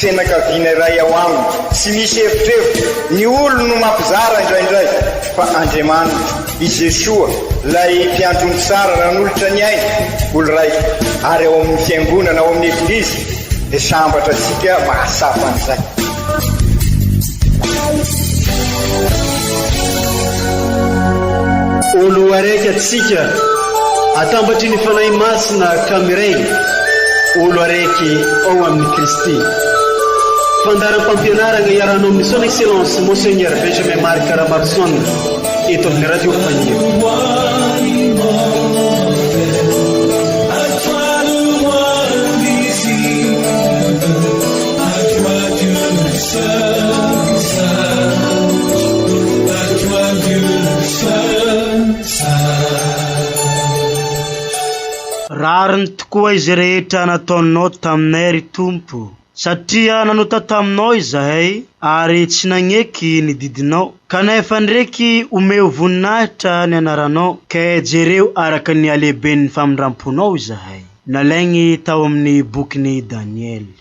Fianakaviana iray ao aminy. Tsy misy erotrerotro, ny olony no mampizara indraindray, fa Andriamanitra, i Jesoa, ilay Mpiandry ny tsara nanolotra ny ainy ho lraiko, ary ao amin'ny Fiangonana, ao amin'ny Eglizy, dia sambatra antsika mahatsapa an'izay. O Loharaiky atsika, atambatry ny Fanahy Masina ka miray, O Loharaiky ao amin' i Kristy. Fandaharam-pampianarana iarahanao amin' ny Son Excellence Monseigneur Benjamin Marc Ramarison eto amin' ny Radio Fahiny. Rariny tokoa izay rehetra nataonao taminay ry Tompo, satria nanota taminao izahay ary tsy nagneky ny didinao, kanefa ndreky omeo voninahitra ny anaranao, ke jereo araka ny halehiben'ny famindramponao izahay. Nalaigny tao amin'ny bokin'i Daniely.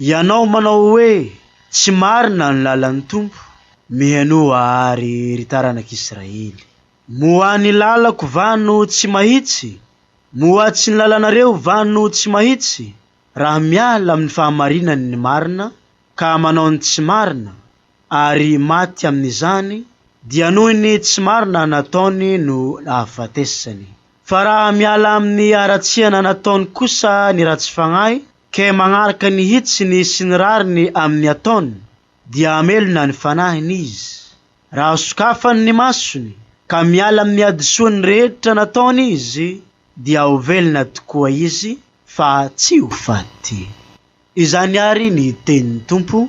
Ianao manao hoe tsy marina ny lalan'ny Tompo, mihenoa àry ry taranak'Israely. Moa ny lalako va no tsy mahitsy? Moa tsy ny lalanareo va no tsy mahitsy? Raha miala amin'ny fahamarinany ny marina, ka manao ny tsy marina, ary maty amin'izany, dia noho ny tsy marina nataony no nahafatesany. Fa raha miala amin'ny haratsiana nataony kosa ny ratsy fagnahy, Ke magnaraka ny hitsiny sy ny rariny amy ny ataony, dia hamelona ny fanahiny izy, raha sokafany ny masony, ka miala amy ny hadisoany rehetra nataony izy, dia ho velona tokoa izy, fa tsy ho faty. Izany àry ny tenin'ny Tompo,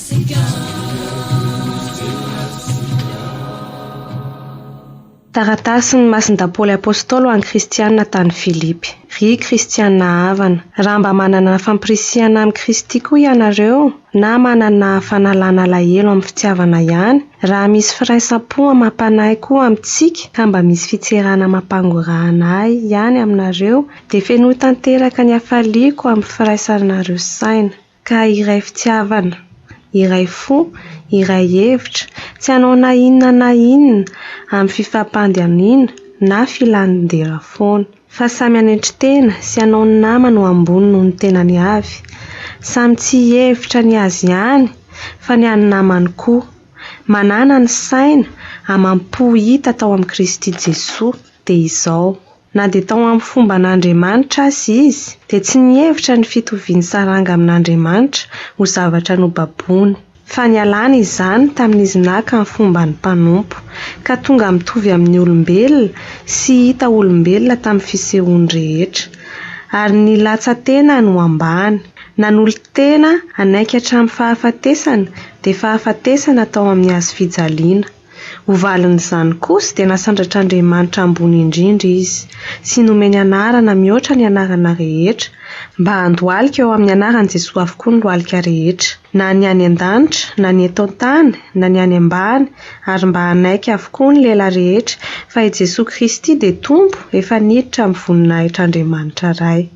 Taratasin'i Masindahy Paoly Apôstôly ho an'ny Kristianina tany Filipy. Ry Kristianina havana, raha mba manana fampirisihana amin'i Kristy koa ianareo, na manana fanalana alahelo amin'ny fitiavana ihany, raha misy firaisam-po amam-panahy koa amintsika, ka mba misy fitserana amam-pangorahana ahy ihany aminareo, dia fenoy tanteraka ny hafaliako amin'ny firaisanareo saina. Ka iray fitiavana, iray fo, iray hevitra, tsy hanao na inona na inona amin'ny fifampandihamiana na filan-dera foana. Fa samy hanetry tena sy hanao ny namany ho ambony noho ny tenany avy. Samy tsy hihevitra ny azy ihany fa ny an'ny namany koa. Manana ny saina amam-po hita tao amin'i Kristy Jesoa dia izao. Na dia tao amin'ny fomba an'Andriamanitra aza izy, dia tsy nihevitra ny fitovian'ny saranga amin'Andriamanitra ho zavatra nobaboina, fa nialany izany tamin'izy naka ny fomban'ny mpanompo, ka tonga mitovy amin'ny olombelona sy hita olombelona tamin'ny fisehoany rehetra. Ary nilatsa-tenany ho ambany, nanolo-tena hanaiky hatramin'ny fahafatesana, dia fahafatesana tao amin'ny hazofijaliana. Ho valin'izany kosa dia nasandratr'Andriamanitra ambony indrindra izy, sy nomeny anarana mihoatra ny anarana rehetra, mba handohalika eo amin'ny anaran'i Jesoa avokoa ny lohalika rehetra, na ny any an-danitra, na ny eto an-tany, na ny any ambany, ary mba hanaiky avokoa ny lela rehetra fa i Jesoa Kristy dia Tompo efa niditra amin'ny voninahitr'Andriamanitra Ray.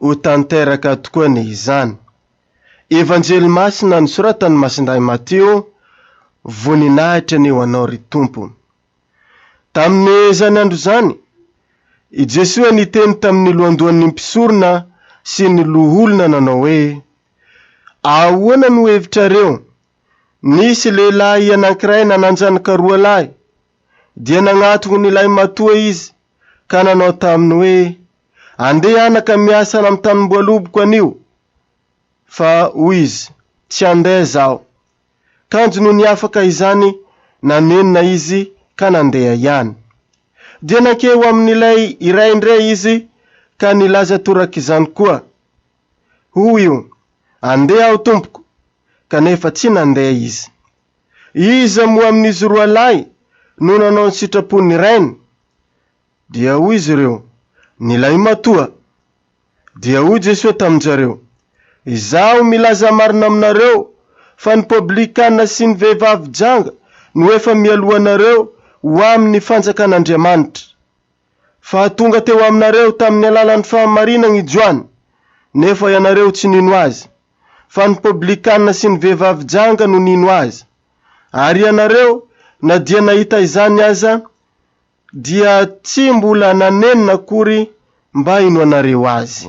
Ho tanteraka tokoa anie izany. Evanjely Masina nosoratan'i Masindahy Matio, Voninahitra anie ho Anao ry Tompo. Tamin'izany andro izany, i Jesoa niteny tamin'ny lohandohan'ny mpisorona sy ny loholona nanao hoe, Ahoana no hevitrareo? Nisy lehilahy anankiray nananjanaka roa lahy. Dia nagnatona ilay matoa izy, ka nanao taminy hoe, Andeha anaka miasa any amin'ny tanimboaloboko anio! Fa hoy izy, Tsy handeha zaho. Kanjo nony afaka izany, nanenina izy ka nandeha ihany. Dia nankeo ho amin'ilay iray indray izy ka nilaza torak'izany koa. Hoy io, Andeha aho tompoko! Kanefa tsy nandeha izy. Iza moa amin'izy roalahy no nanao ny sitrapon'ny rainy? Dia hoy izy ireo, Ny lahimatoa. Dia hoy Jesoa tamin-jareo, Izaho milaza marina aminareo fa ny poblikanina sy ny vehivavy janga no efa mialohanareo ho amin'ny fanjakan'Andriamanitra. fa tonga teo aminareo tamin'ny alalan'ny fahamarinana i Joany, nefa ianareo tsy nino azy, fa ny Poblikanina sy ny vehivavy janga no nino azy. Ary ianareo, na dia nahita izany aza, dia tsy mbola nanenina akory mba hinoanareo azy.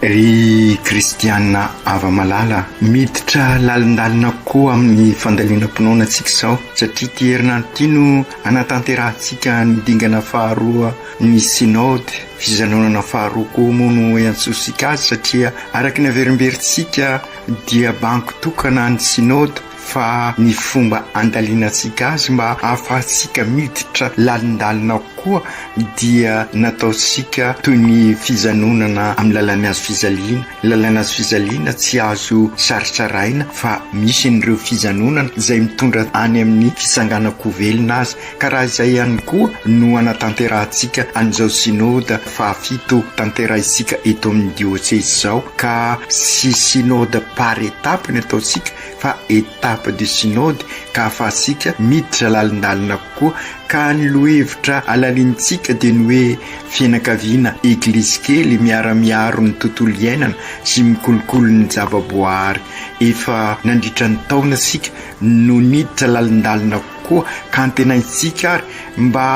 Ry kristiana hava-malala, miditra lalindalina koa amin'ny fandalinam-pinoana antsika izao, satria ity herinandro ity no hanatanterahantsika ny dingana faharoa ny Synode. Fijanonana faharoa koa moa no iantsoantsika azy, satria araka ny averimberintsika dia bango tokana ny Synode. fa ny fomba andaliantsika azy mba hahafahantsika miditra lalindalina ao koa dia nataontsika toy ny fijanonana amin'ny lalàn'ny hazo fijaliana. Ny lalàn'ny hazo fijaliana tsy azo saritsaraina fa misy an'ireo fijanonana izay mitondra any amin'ny fitsanganan-ko velona azy ka raha izay ihany koa no anatanterahantsika an'izao Synoda fahafito tanterahintsika eto amin'ny Dioceze izao ka tsy Synoda par étape ny ataontsika fa étape du synode ka afahantsika miditra lalindalina kokoa ka ny lohevitra alalinintsika dia ny hoe fianakaviana eglizy kely miara-miaro ny tontolo iainana sy mikolokolo ny java-boahary efa nandritra ny taona isika no niditra lalindalina kokoa ka antenaintsika ary mba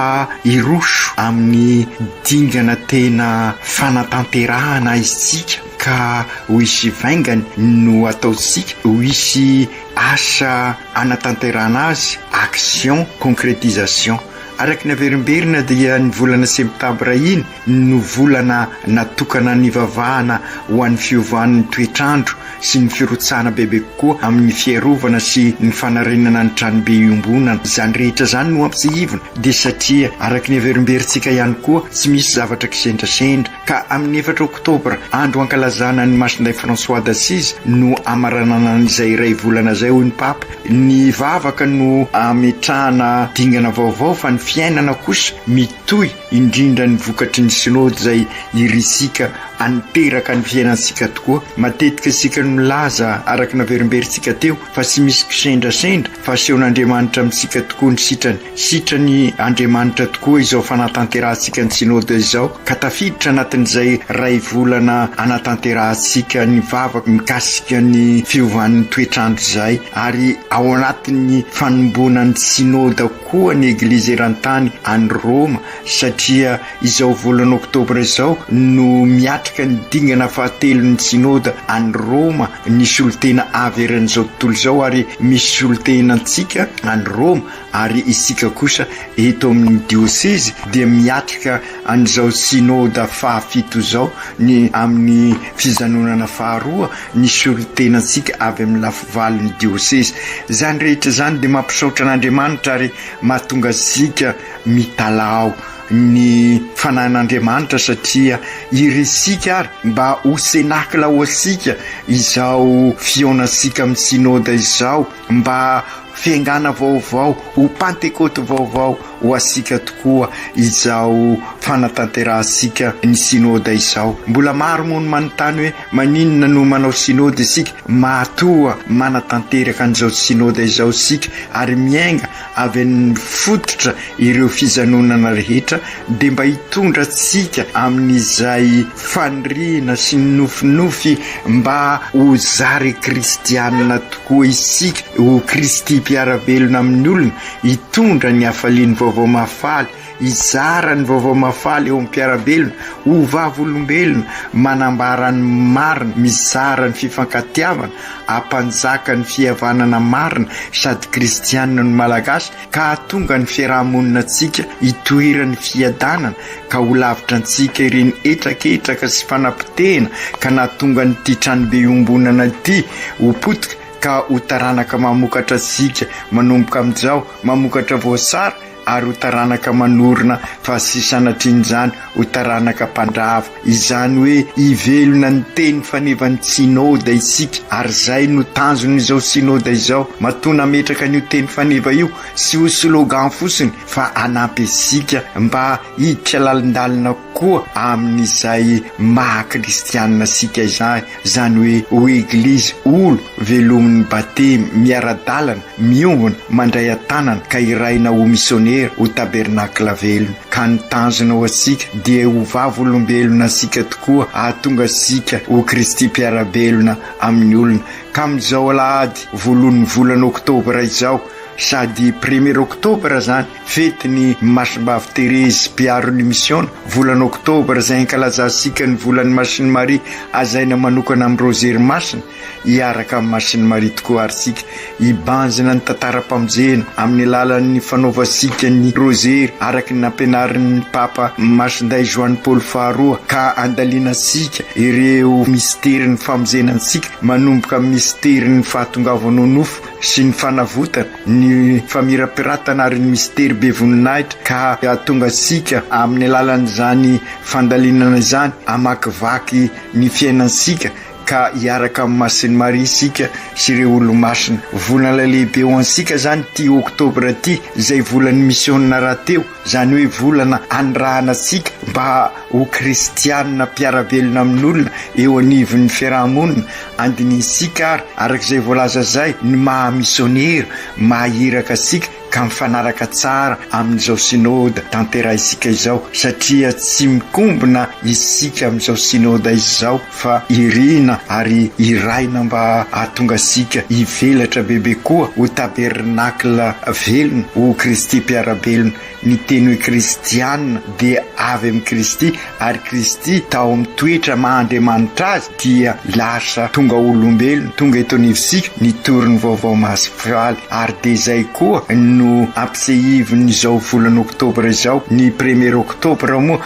hiroso amin'ny dingana tena fanatanterahana aizintsika Ka ho hisy vaingany no ataontsika, ho hisy asa hanatanterahana azy, action, concrétisation. Araka ny averimberina dia ny volana septambra iny no volana natokana nivavahana ho an'ny fiovan'ny toetr'andro sy ny firotsahana bebe kokoa amin'ny fiarovana sy ny fanarenana ny tranobe iombonana. Izany rehetra izany no ampitsiihivina dia satria araka ny averimberintsika ihany koa tsy misy zavatra kisendrasendra, ka amin'ny efatra oktobra, andro ankalazana an'i Masindahy François d'Assise, no hamaranana an'izay iray volana izay, hoy ny Papa. Ny vavaka no hametrahana dingana vaovao fa ny fiainana kosa mitohy, indrindra ny vokatry ny Synody izay irisika haninteraka ny fiainantsika tokoa. Matetika isika no milaza, araka ny naverimberintsika teo, fa tsy misy kisendrasendra fa asehon'Andriamanitra amintsika tokoa ny sitrany. Sitran' Andriamanitra tokoa izao fanatanterahantsika ny Synoda izao ka tafiditra anatin'izay iray volana anatanterahantsika ny vavaka mikasika ny fiovan'ny toetr'andro izay ary ao anatin'ny fanombonan'ny Synoda koa ny Eglizy eran-tany any Roma satria izao volana Oktobra izao no miatrika ny dingana fahatelon'ny Synoda any Roma ny solontena avy eran'izao tontolo izao ary misy solontena antsika any Roma ary isika kosa eto amin'ny diosezy dia miatrika an'izao Synoda fahafito izao ny amin'ny fijanonana faharoa ny solontenantsika avy amin'ny lafivalon'ny diosezy. Izany rehetra izany dia mampisaotra an'Andriamanitra ary mahatonga antsika mitalaho ny fanan'Andriamanitra satria irisika ary mba ho cenacla ho antsika izao fihaonantsika amin'ny Synoda izao. mba fiaingàna vaovao, ho Pantekôty vaovao ho asika tokoa izao fanatanterahantsika ny Synôda izao. Mbola maro moa no manontany hoe maninona no manao Synôda isika? Matoa manatanteraka an'izao Synôda izao isika ary miainga avy amin'ny fototra ireo fijanonana rehetra dia mba hitondra antsika amin'izay faniriana sy ny nofinofy mba ho zary kristianina tokoa isika, ho Kristy mpiara-belona amin'ny olona, hitondra ny hafalian'ny Vaovao Mahafaly. Hizara ny vaovao mahafaly eo amin'ny mpiara-belona ho vavolombelona manambara ny marina, mizara ny fifankatiavana, hampanjaka ny fihavanana marina sady kristianina ny Malagasy ka hahatonga ny fiaraha-moninantsika hitoeran'ny fiadanana ka ho lavitra antsika ireny hetraketraka sy fanapotehana ka nahatonga an'ity tranobe iombonana ity ho potika ka ho taranaka mamokatra antsika manomboka amin'izao mamokatra voasary ary ho taranaka manorina fa tsy sanatrian'izany ho taranaka mpandrava, izany hoe hivelona ny teny fanevan'ny Synoda isika, ary izay no tanjon'izao Synoda izao, matoa nametraka an'io teny faneva io tsy ho slogan fotsiny fa hanampy antsika mba hiditra lalindalina Koa amin'izay maha kristianina antsika izany, izany hoe ho Eglizy, olo, velomin'ny Batemy, miara-dalana, miombona, mandray an-tanana, ka hirahina ho misionera, ho tabernakla velona. Ka ny tanjona ho antsika dia ho vavolombelona antsika tokoa hahatonga antsika ho Kristy mpiara-belona amin'ny olona. Ka amin'izao alahady voalohan'ny volana oktobra izao, sady premier oktobra izany, Fetin'i Masimbavy Terezy mpiaro ny misiona, volana oktobra, izay ankalazantsika ny volan'ny Masin'i Maria hazaina manokana amin'ny Rozery Masina. Hiaraka amin'i Masin'i Maria tokoa ary isika, hibanjina ny tantaram-pamonjena amin'ny alalan'ny fanaovantsika ny Rozery araka ny nampianarin'ny Papa Masindahy Joany Paoly Faharoa, ka andalinantsika ireo misterin'ny famonjena antsika, manomboka amin'ny misterin'ny fahatongavanao nofo. sy ny fanavotana, ny famirapiratana ary ny mistery be voninahitra ka hahatonga antsika amin'ny alalan'izany fandalinana izany hamakivaky ny fiainantsika ka hiaraka amin'i Masin'i Maria isika sy ireo Olomasina. Volana lehibe ho antsika izany ity Oktobra ity izay volan'ny Misiona rahateo. izany hoe volana andrahana antsika mba ho kristianina mpiara-belona amin'olona eo anivon'ny fiaraha-monina, andinihintsika ary araka izay voalaza izay ny maha misionera maha iraka antsika ka mifanaraka tsara amin'izao synoda tanterahintsika izao satria tsy mikombona isika amin'izao synoda izao. fa irina ary iraina mba hahatonga antsika hivelatra bebe koa ho tabernakla velona, ho Kristy mpiara-belona. Ny teny hoe Kristiana dia avy amin'i Kristy, ary Kristy tao amin'ny toetra maha Andriamanitra Azy dia lasa tonga olombelona, tonga eto anivontsika, nitory ny Vaovao Masipiraly. Ary dia izay koa no ampisehivin'izao volana oktobra izao. Ny premier oktobra moa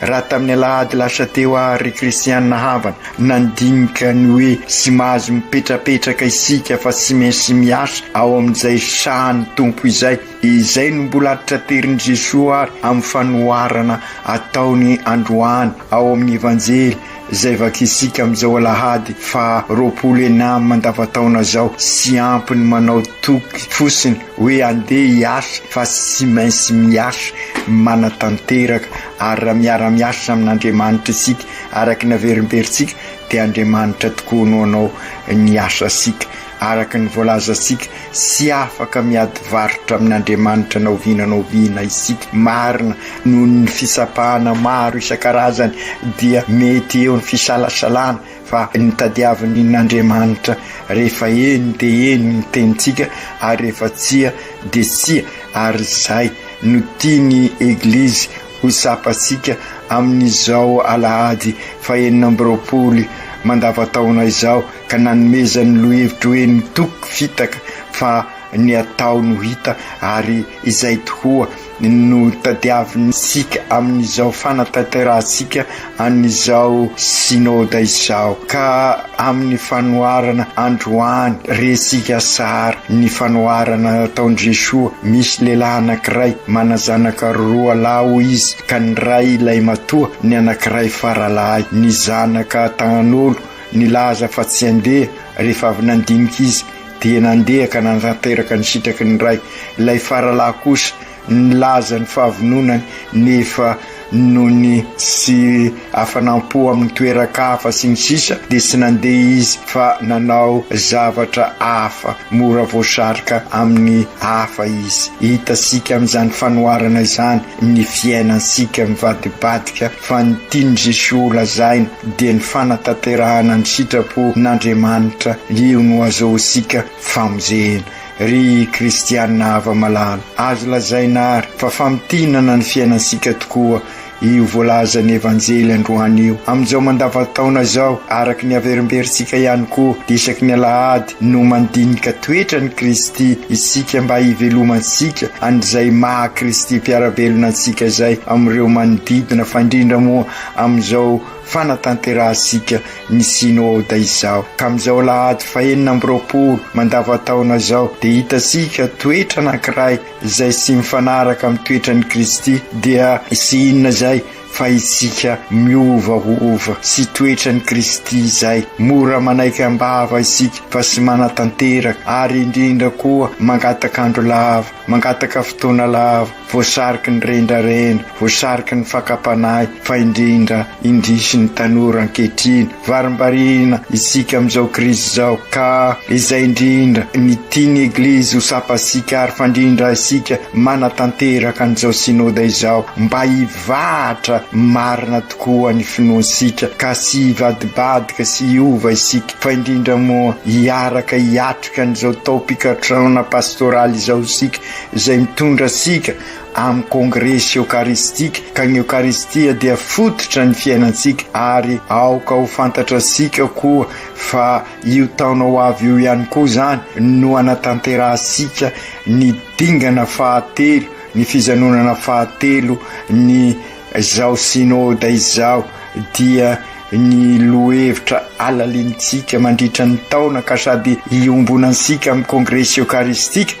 Raha tamin'ny alahady lasa teo àry Kristianina havana nandinika ny hoe tsy mahazo mipetrapetraka isika fa tsy maintsy miasa ao amin'izay sahan'ny Tompo izay, izay no mbola tra-terin'i Jesoa àry amin'ny fanoharana ataony androany ao amin'ny Evanjely. izay vakiantsika amin'izao alahady faha roapolo ena mandavataona izao sy ampy ny manao toky fosiny hoe andeha hiasa fa tsy maintsy miasa manatanteraka ary raha miara miasa amin'Andriamanitra isika araka ny averimberintsika dia Andriamanitra tokoa no anao ny asa sika araka ny voalazantsika, tsy afaka miady varotra amin'Andriamanitra na oviana na oviana isika. Marina, noho ny fitsapana maro isan-karazany, dia mety eo ny fisalasalana, fa ny tadiavin'Andriamanitra, rehefa eny dia eny ny tenintsika, ary rehefa tsia dia tsia, ary izay no tian'ny Eglizy. Ho tsapantsika amin'izao alahady fahenina amby roapolo mandavantaona izao ka nanomezan'ny lohevitra hoe ny toky fitaka fa ny atao no hita ary izay tokoa no tadiavintsika amin'izao fanatanterahantsika an'izao Synode izao ka amin'ny fanoharana androany resika sary ny fanoharana nataon'i Jesoa, misy lehilahy anankiray manazanaka roa lahy hoy izy ka ny ray lahimatoa ny anankiray faralahy, ny zanaka tahan'olo nilaza fa tsy andeha rehefa avy nandinika izy dia nandeha ka nanatanteraka ny sitraky ny ray, ilay faralahy kosa. nilaza ny fahavononany nefa noho ny tsy hafanam-po amin'ny toeran-kafa sy ny sisa dia tsy nandeha izy fa nanao zavatra hafa, mora voasarika amin'ny hafa izy. Hitantsika amin'izany fanoharana izany ny fiainantsika mivadibadika fa ny tian'i Jesoa holazaina dia ny fanatanterahana ny sitrapo n'Andriamanitra, io no azahoantsika famonjena. Ry kristiana afa-malala, azo lazaina àry fa famintinana ny fiainantsika tokoa io voalazan'ny Evanjely androany io. Amin'izao mandavantaona izao, araka ny averimberintsika ihany koa, dia isaky ny alahady no mandinika toetra an'i Kristy isika mba hivelomantsika an'izay maha-Kristy Mpiara-belona antsika izay amin'ireo manodidina, fa indrindra moa amin'izao fanatanterahantsika ny Synoda izao. Tamin'izao Alahady fahenina amby roapolo mandavan-taona izao dia hitantsika toetra anankiray izay tsy mifanaraka amin'ny toetran'i Kristy, dia tsy inona izay fa isika miovaova sy toetran'i Kristy izay. Mora manaiky am-bava isika fa tsy manatanteraka ary indrindra koa mangataka andro lava, mangataka fotoana lava. voasariky ny rendrarendra, voasariky ny fakam-panahy fa indrindra indrisy ny tanora ankehitriny. Varimbariana isika amin'izao krizy izao ka izay indrindra ny tian'ny Eglizy ho sapatsika ary fandrindra isika manatanteraka an'izao Synoda izao mba hivahatra marina tokoa ny finoantsika ka tsy hivadibadika sy hiova isika fa indrindra moa hiaraka hiatrika an'izao taom-pikatrosaona pastoraly izao isika izay mitondra antsika amin'ny kongresy eokaristika, ka ny Eokaristia dia fototra ny fiainantsika, ary aoka ho fantatransika koa fa io taona ho avy io ihany koa izany no hanatanterahantsika ny dingana fahatelo, ny fijanonana fahatelo ny. Izao Synode izao dia ny lohevitra alalinintsika mandritra ny taona ka sady iombonantsika amin'ny Kongresy Eokaristika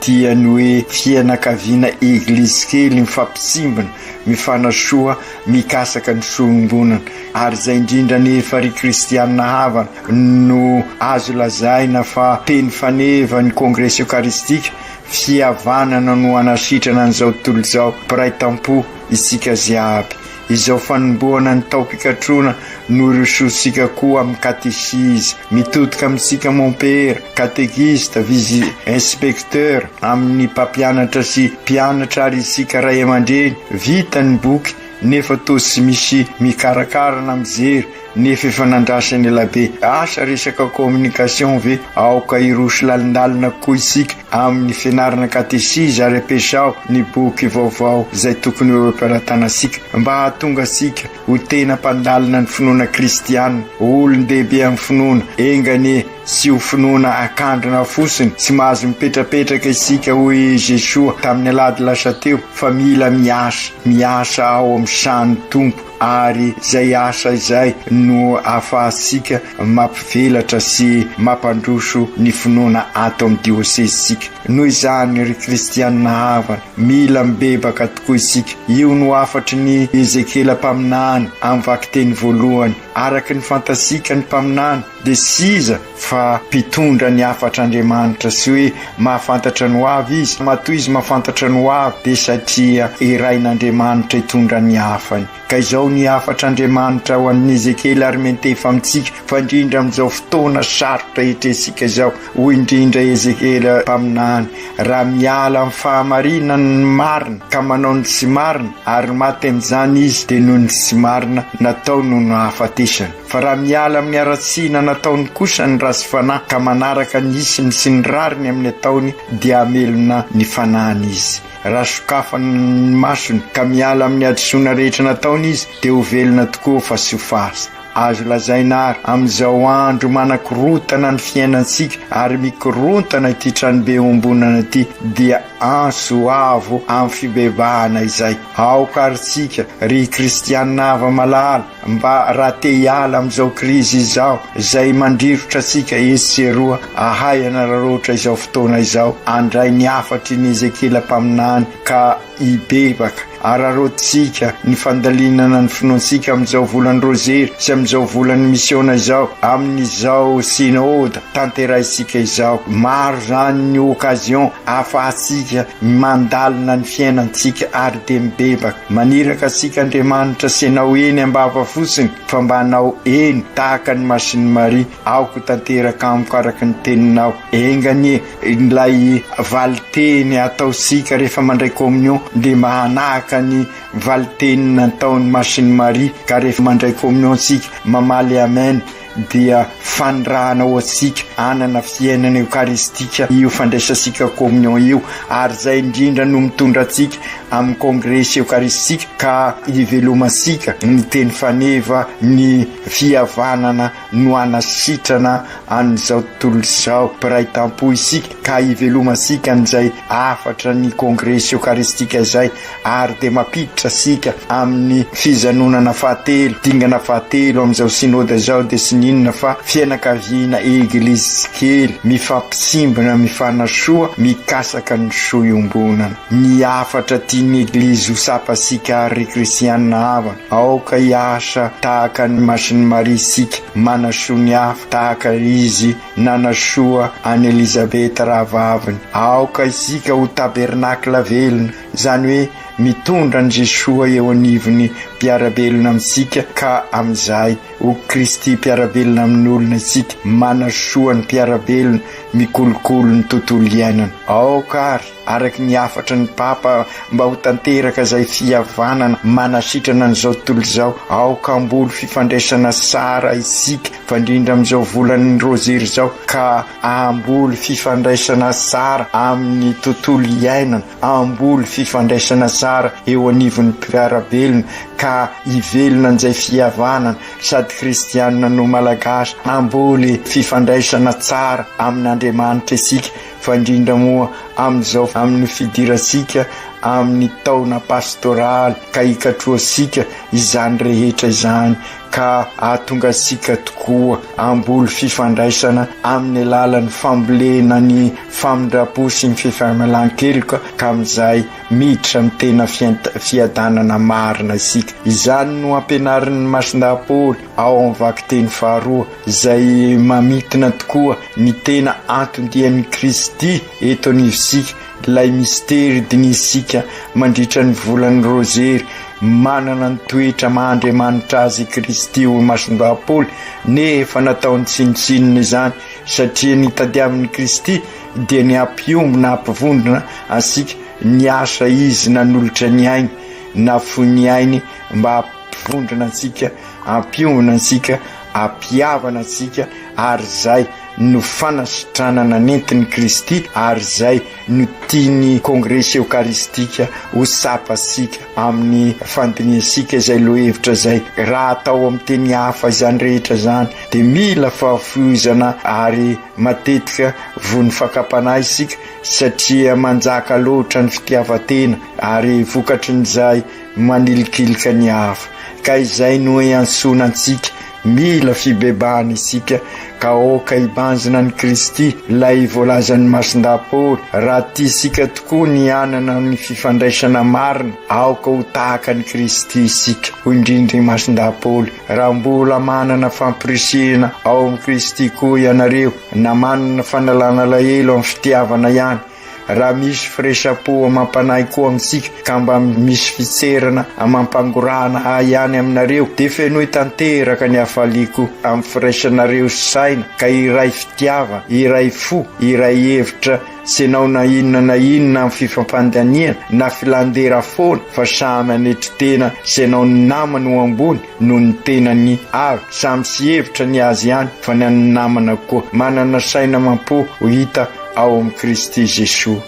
dia ny hoe fianakaviana Eglizy kely mifampitsimbina, mifanasoa, mikasaka ny fiombonana. Ary izay indrindra anefa ry Kristianina havana no azo lazaina fa teny faneva ny Kongresy Eokaristika Fihavanana no hanasitrana an'izao tontolo izao mpiray tampo isika ziaby. Izao fanombohana ny taom-pikatroana no hirosoantsika koa amin'ny katesizy mitodika amintsika mompera, katekista, vizy inspektera, amin'ny mpampianatra sy mpianatra ary isika ray aman-dreny vita ny boky nefa toa tsy misy mikarakara na mijery Nefa efa nandrasany ela be. Asa resaka communication ve? Aoka hiroso lalindalina kokoa isika amin'ny fianarana katesizy ary ampiasao ny boky vaovao izay tokony ho eo am-pelatanantsika mba hahatonga antsika ho tena mpandalina ny finoana kristiana, olon-dehibe amin'ny finoana. Enga anie tsy ho finoana akandrina fosiny sy mahazo mipetrapetraka isika hoy i Jesoa tamin'ny alahady lasa teo fa mila miasa, miasa ao amin'ny sahan'ny Tompo. ary izay asa izay no ahafahantsika mampivelatra sy mampandroso ny finoana ato amin'ny diosezitsika. Noho izany, ry kristianina havana, mila mibebaka tokoa isika. Io no hafatry ny Ezekiela mpaminany amin'ny vakiteny voalohany. Araka ny fantatsika, ny mpaminany Dia tsy iza fa mpitondra ny hafatr'Andriamanitra, tsy hoe mahafantatra ny hoavy izy, matoa izy mahafantatra ny hoavy dia satria irain'Andriamanitra hitondra ny hafany. Ka izao ny hafatr'Andriamanitra ho an'i Ezekiela ary miantefa amintsika fa indrindra amin'izao fotoana sarotra iatrehantsika izao, hoy indrindra Ezekiela mpaminany, raha miala amin'ny fahamarinany ny marina ka manao ny tsy marina ary maty amin'izany izy dia noho ny tsy marina nataony no nahafatesany. Fa raha miala amin'ny haratsiana nataony kosa ny ratsy fanahy ka manaraka ny isiny sy ny rariny amin'ny ataony dia hamelona ny fanahiny izy. Raha sokafany ny masony ka miala amin'ny hadisoana rehetra nataony izy dia ho velona tokoa fa tsy ho faty. Azo lazaina àry amin'izao andro manakorontana ny fiainantsika ary mikorontana ity tranobe iombonana ity dia antso avo amin'ny fibebahana izay. Aoka àry tsika, ry kristiana hava malala, Mba raha te hiala amin'izao krizy izao izay mandrirotra antsika etsy sy eroa, ahay hanararaotra izao fotoana izao, andray ny hafatry ny Ezekiela mpaminany ka hibebaka. Araraotintsika ny fandalinana ny finoantsika amin'izao volan'ny Rozery sy amin'izao volan'ny Misiona izao, amin'izao Synode tanterahintsika izao. Maro izany ny occasion ahafahantsika mandalina ny fiainantsika ary. dia mibebaka maniraka antsika Andriamanitra sy anao eny ambava fotsiny fa mba anao eny tahaka ny masin'i Maria aoka tanteraka amiko araka ny teninao enga anie ilay valinteny ataontsika rehefa mandray communion dia mba hanahaka ny valinteny nataon'ny masin'i Maria ka rehefa mandray communion tsika mamaly amen dia fanirahana ho antsika hanana fiainana eokaristika io fandraisantsika communion io, ary izay indrindra no mitondra antsika amin'ny kongresy eokaristika ka hivelomantsika ny teny faneva, ny fihavanana no hanasitrana an'izao tontolo izao mpiray tampo isika ka hivelomantsika an'izay hafatra ny kongresy eokaristika izay. ary dia mampiditra antsika amin'ny fijanonana fahatelo, dingana fahatelo amin'izao Synode izao dia tsy n'inona fa fianakaviana Eglizy kely mifampisimbina mifanasoa mikasaka ny soa iombonana. Ny hafatra tian'ny Eglizy ho tsapantsika ry Kristiana havana, aoka hiasa tahaka an'i Masin'i Maria isika, manasoa ny hafa tahaka Izy nanasoa an'i Elizabeta rahavaviny. Aoka isika ho tabernacle velona, izany hoe mitondra an'i Jesoa eo anivon'ny mpiara-belona amintsika ka amin'izay ho Kristy mpiara-belona amin'olona isika, manasoa ny mpiara-belona, mikolokolo ny tontolo iainana. Aoka ary, araka ny hafatry ny Papa, mba ho tanteraka izay fihavanana manasitrana an'izao tontolo izao, aoka hamboly fifandraisana tsara isika, fa indrindra amin'izao volan'ny Rozery izao, ka hamboly fifandraisana tsara amin'ny tontolo iainana. hamboly fifandraisana tsara eo anivon'ny mpiara-belona ka hivelona an'izay fihavanana sady kristianina no Malagasy, hamboly fifandraisana tsara amin'Andriamanitra isika fa indrindra moa amin'izao amin'ny fidirantsika amin'ny taona pastoraly ka hikatrohantsika izany rehetra izany ka hahatonga antsika tokoa hamboly fifandraisana amin'ny alalan'ny fambolena ny famindram-po sy ny fifamalan-keloka ka amin'izay miditra ny tena fiadanana marina isika. Izany no ampianarin'ny Masindahy Paoly ao amin'ny vakiteny faharoa izay mamintina tokoa ny tena anton-dian'i Kristy eto anivontsika, ilay mistery dinihintsika mandritra ny volan'ny Rozery, manana ny toetra maha Andriamanitra azy i Kristy hoy Masindahy Paoly nefa nataony tsinontsinona izany. Satria ny tadiavin'i Kristy dia ny hampiombona hampivondrona antsika, niasa Izy nanolotra ny ainy, nafoy ny ainy mba hampivondrona antsika, hampiombona antsika, hampihavana antsika, ary izay no fanasitranana nentin'i Kristy ary izay no tian'ny Kongresy Eokaristika ho tsapantsika. amin'ny fandinihantsika izay lohahevitra izay. Raha atao amin'ny teny hafa izany rehetra izany, dia mila fahafohizana ary matetika voan'ny fakam-panahy isika, satria manjaka loatra ny fitiavan-tena, ary vokatrin'izay manilikilika ny hafa. Ka izay no iantsoana antsika. Mila fibebahana isika ka aoka hibanjina an'i Kristy, ilay voalazan'ny Masindahy Paoly. Raha tia isika tokoa ny hanana ny fifandraisana marina, aoka ho tahaka an'i Kristy isika, hoy indrindra i Masindahy Paoly. Raha mbola manana fampirisihina ao amin'i Kristy koa ianareo, na manana fanalana alahelo amin'ny fitiavana ihany, Raha misy firaisampo amam-panahy koa amintsika ka mba misy fitserana amam-pangorahana ahy ihany aminareo, dia fenoy tanteraka ny hafaliako amin'ny firaisanareo saina ka iray fitiava, iray fo, iray hevitra, tsy hanao na inona na inona amin'ny fifampandaniana na filan-dera foana fa samy hanetry tena sy hanao ny namany ho ambony. noho ny tenany avy, samy tsy hevitra ny azy ihany fa ny an'ny namana koa, manana saina amam-po ho hita ao amin'i Kristy Jesoa.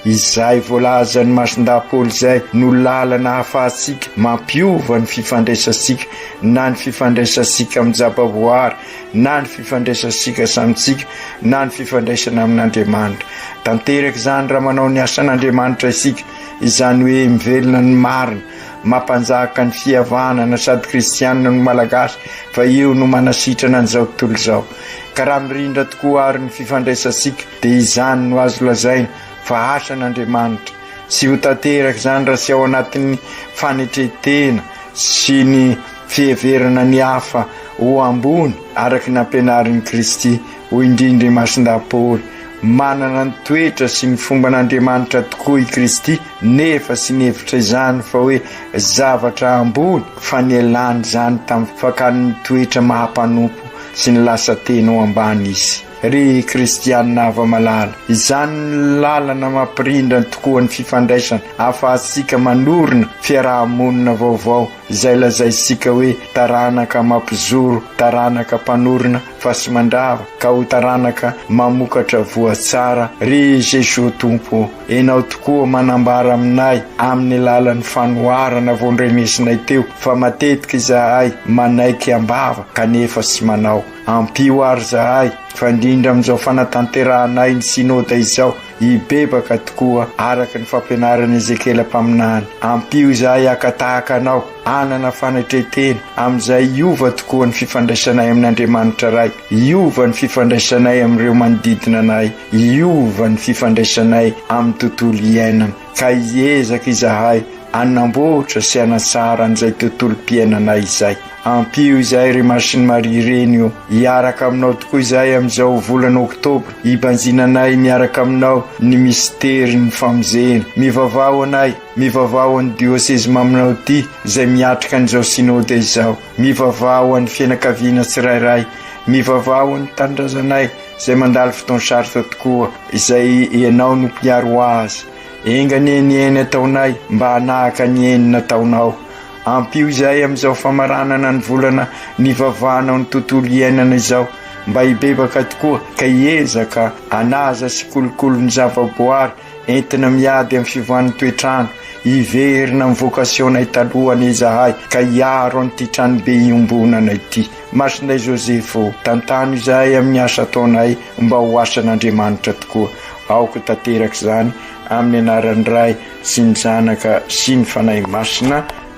Izay voalazan'ny Masindahy Paoly izay no lalana ahafahantsika mampiova ny fifandraisantsika, na ny fifandraisantsika amin'ny zavaboahary, na ny fifandraisantsika samintsika, na ny fifandraisana amin'Andriamanitra. Tanteraka izany raha manao ny asan'Andriamanitra isika, izany hoe mivelona ny marina, Mampanjaka ny fihavanana sady kristianina ny Malagasy fa io no manasitrana an'izao tontolo izao. Ka raha mirindra tokoa ary ny fifandraisantsika dia izany no azo lazaina fa asan'Andriamanitra. Tsy ho tanteraka izany raha tsy ao anatin'ny fanetren-tena sy ny fiheverana ny hafa ho ambony araka ny nampianarin'i Kristy. Hoy indray i Ndriamasindahy Paoly, Manana ny toetra sy ny fomban'Andriamanitra tokoa i Kristy, nefa tsy nihevitra izany fa hoe zavatra ambony, fa nialany izany tamin'ny fakany ny toetra maha-mpanompo sy ny lasa tena ho ambany izy. Ry kristiana hava-malala, izany no lalana mampirindra tokoa ny fifandraisana ahafahantsika manorina fiaraha-monina vaovao izay lazaintsika hoe taranaka mampizoro, taranaka mpanorina, fa tsy mandrava ka ho taranaka mamokatra voa tsara ry Jesoa Tompo ô Enao tokoa manambara aminay amin'ny lalan'ny fanoharana vao ndrenesinay teo fa matetika izahay manaiky ambava kanefa tsy manao ampio ary zahay fa indrindra amin'izao fanatanterahanay ny synoda izao hibebaka tokoa araka ny fampianaran'i Ezekiela mpaminany ampio izahay akatahaka anao hanana fanetren-tena, amin'izay hiova tokoa ny fifandraisanay amin'Andriamanitra Ray, hiova ny fifandraisanay amin'ireo manodidina anay, hiova ny fifandraisanay amin'ny tontolo iainana. Ka hiezaka izahay hanamboatra sy hanatsara an'izay tontolom-piainanay izay. Ampio izay ry Masin'i Maria Ireny o. Hiaraka aminao tokoa izahay amin'izao volana oktobra, hibanjinanay miaraka aminao ny misterin'ny famonjena. Mivavaha ho anay. Mivavaha ho an'ny Diôsezy Maminao ity izay miatrika an'izao Synôda izao. Mivavaha ho an'ny fianakaviana tsirairay. Mivavaha ho an'ny tanindrazanay izay mandalo fotoan-sarotra tokoa, izay Ianao no mpiaro azy. Enga anie ny eny ataonay mba hanahaka ny eny nataonao. Ampio izay amin'izao famaranana ny volana nivavahanao ny tontolo iainana izao mba hibebaka tokoa ka hiezaka hanaja sy hikolokolo ny zavaboary Entina miady amin'ny fivoahan'ny toetr'ano, hiverina amin'ny vocation-nay taloha anie izahay ka hiaro an'ity tranobe iombonana ity. Masinday Joseph ô, tantano izahay amin'ny asa ataonay mba ho asan'Andriamanitra tokoa. Aoka tanteraka izany, amin'ny anaran'ny Ray sy ny Zanaka sy ny Fanahy Masina.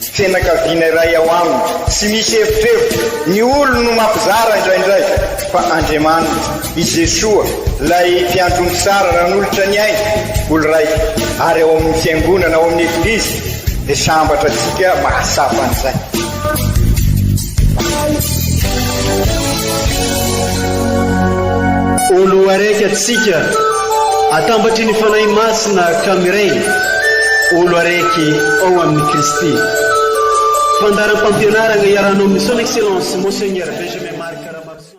Tsy fianakaviana iray ao aminy. Tsy misy erotrerotro. Ny olony no mampizara indraindray. Fa Andriamaniny, i Jesoa, ilay Mpiandry omby tsara nanolotra ny ainy, olon-draika, ary ao amin'ny Fiangonana, ao amin'ny Eglizy, dia sambatra antsika mahasafa an'izay. Ô Loaraiky antsika, atambatry ny Fanahy Masina ka miray, Ô Loaraiky ao amin'i Kristy. Fandaharam-pampianarana iarahanao amin'ny Son Excellence Monseigneur Benjamin Marc Ramaroson.